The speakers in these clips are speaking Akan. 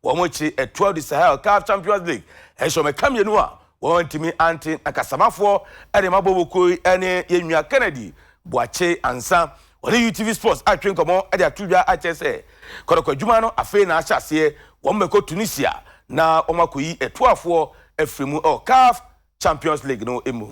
Wɔn akyiri ɛtoa du Sahel CAF Champions League ɛhyɛ wɔn ɛka mmienu a wɔantumi ante na Kasamafoɔ de ma Bobo kuo yi ne yɛn nua Kennedy Boakye Ansa. Wɔne UTV Sports atwetwe nkɔmmɔ de ato dwa akyerɛ sɛ kɔtɔkɔ adwuma no afei na ahyɛ aseɛ, wɔn bɛkɔ Tunisia na wɔakɔyi ɛtoafoɔ afiri mu wɔ CAF Champions League no mu.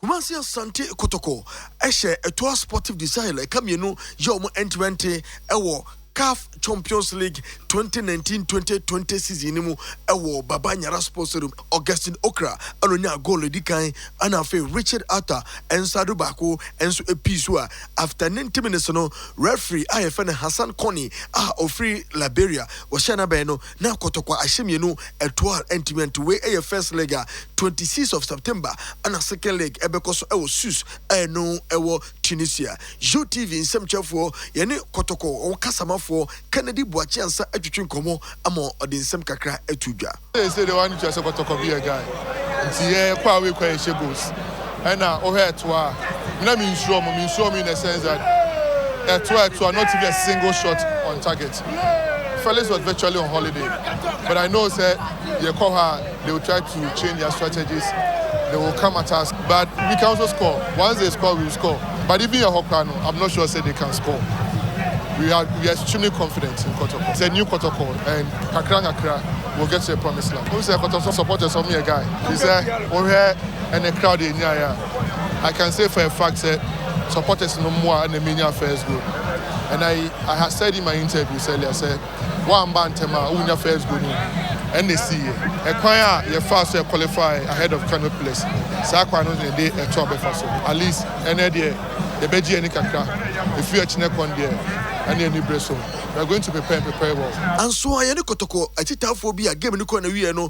Kumasi Asante Kotoko hyɛ Etoa Sportive de Sahel ɛka mmienu yɛ wɔn ɛnterɛnte wɔ Caf Champions League twenty nineteen twenty twenty season no mu wɔ Baba Nyara Sports Stadium. Augustine Okra na onyaa goal a edi kan ɛna afei Richard Arthur nsa do baako nso pii so a after ninety minutes no referee a yɛfrɛ no Hassan Kone a ɔfiri Liberia ɔhyɛɛ n'abɛn no na kɔtɔkwa ahyɛ mmienu ɛtoɔ a ɛntumi ɛnto wei ɛyɛ first leg a twenty six of September ɛna second leg ɛbɛkɔ so ɛwɔ Sousse a ɛno ɛwɔ Tunisia YOTV nsɛmkyerɛfoɔ yɛne kɔtɔkɔ wɔn kasamafoɔ Kennedy Boakye Ansah atwitwi nkɔmmɔ ama ɔde nsɛm kakra ato dwa. Seesei deɛ w'ani kyerɛ sɛ kɔtɔkɔ bi yɛ guy nti yɛ kɔ away kɔ yɛhyɛ goals ɛna wohɛ ɛtoa a me na mensuro ɔmo mensuro ɔmo in a sense that ɛtoa ɛtoa not even a single shot on target. Felix was virtually on holiday but I know sɛ yɛkɔ hɔ a they will try to change their strategies, they will come at us but we can also score, once they score we will score but even yɛhɔ koraa no I'm not sure sɛ they can score, we are we are extremely confident in Kɔtɔkɔ, it's a new Kɔtɔkɔ and kakra nkakra we will get to the promised land. Wohu sɛ Kɔtɔkɔ supporters wɔn yɛ guy, firi sɛ wohwɛ ɛnɛ crowd a yɛnyaeɛ a. I can say for a fact sɛ supporters no mmoa na menya first goal and I, I had said in my interviews earlier sɛ woamba ntɛm a wonya first goal no ɛna ɛsiiɛ. Ɛkwan a yɛfaa so yɛ qualify ahead of Kano Pillars saa kwan no na yɛde ɛto abɛfa so. At least ɛnɛ deɛ yɛbɛgye yɛn ani kakra, ɛfiri ɛkyena kɔ no deɛ ɛne ani bere so. We are going to prepare and prepare well. Anso ayɛ ne kɔtɔkɔ akyitaafoɔ bi a game no kɔɔ n'awieɛ no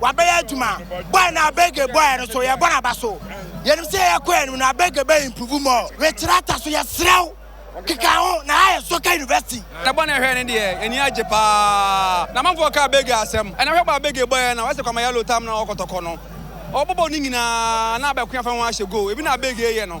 Wabɛyɛ adwuma. Boy no Abege boy no so yɛbɔ no aba so. Yɛnim sɛ yɛkɔ yɛn anim no Abege bɛ improve more. Rekyerɛ ata so yɛsrɛ wo keka ho na ha yɛ Soka University. Ɛbɔ na ɛhwɛ no deɛ ani agye paa na amanfoɔ ka Abege asɛm. Ɛna hwɛ bɔ Abege bɔeɛ no a woayɛ sɛ Kwame Yellow tam no a ɔkɔtɔkɔ no. Ɔbɔbɔ no nyinaa na Abɛkoya fa ho ahyɛ goal. Ebi na Abege yɛ no.